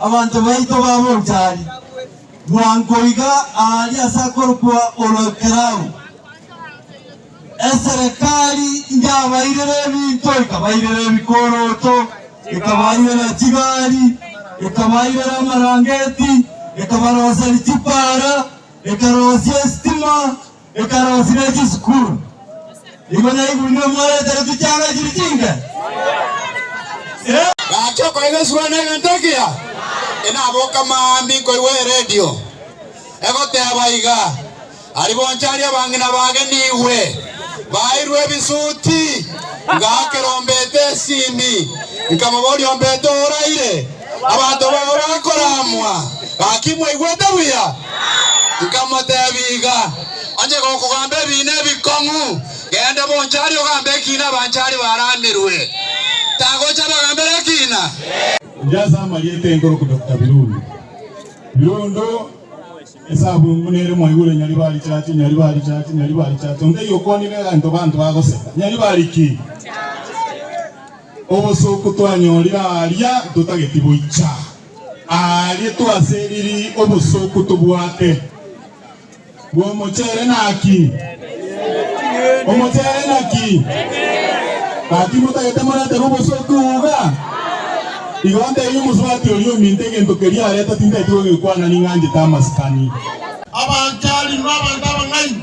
Abanto baito babe ochari bwango iga aaria ase akorokwa Oloekerau. Eserekari inyabairere ebinto, ikabairera ebikoroto, ikabairera chigari, ikabairera amarangeti, ikabaroseria chipaara, Ekarosia esitima, ekarosi ne chisukuru. Igo naiguru nigo mwaretera chichanga chiri chinke. Eh. Gachia okoegeswa negento ekiya, enaboka mambia nkoigwa eredio egoteba iga, Ari bonsi aria abang'ina bage nigwe baeirwe ebisuti. Ngaakera ombete esimi, nkamoboria, Ombete oraire? Abanto bao bakoramwa, Gaki mwaigwete buya? Nkamotebia, Iga, onye gokogamba ebiina ebikong'u, genda bonchari ogambe ekiina abanchari baramirwe. Tagocha bagambera ekiina? Erio ase amarieta enkorokwa Doctor Birundu, Birundu, esabungu nere mwaigure Nyaribari chachi, Nyaribari chachi, Nyaribari chachi, onde yokwanire egento banto bagoseka, Nyaribari ki? Obosuku twanyorire aaria ntotageti goicha aaria twaseriri obosuku tobwate bw'omochere naki? Omochere naki? Gaki motagete moretere obosuku iga? Igo ntebie omosubati oria ominto egento keria areta tintageti kogekwana ning'anchete amasikani. Abanchari n'abanto abang'aini.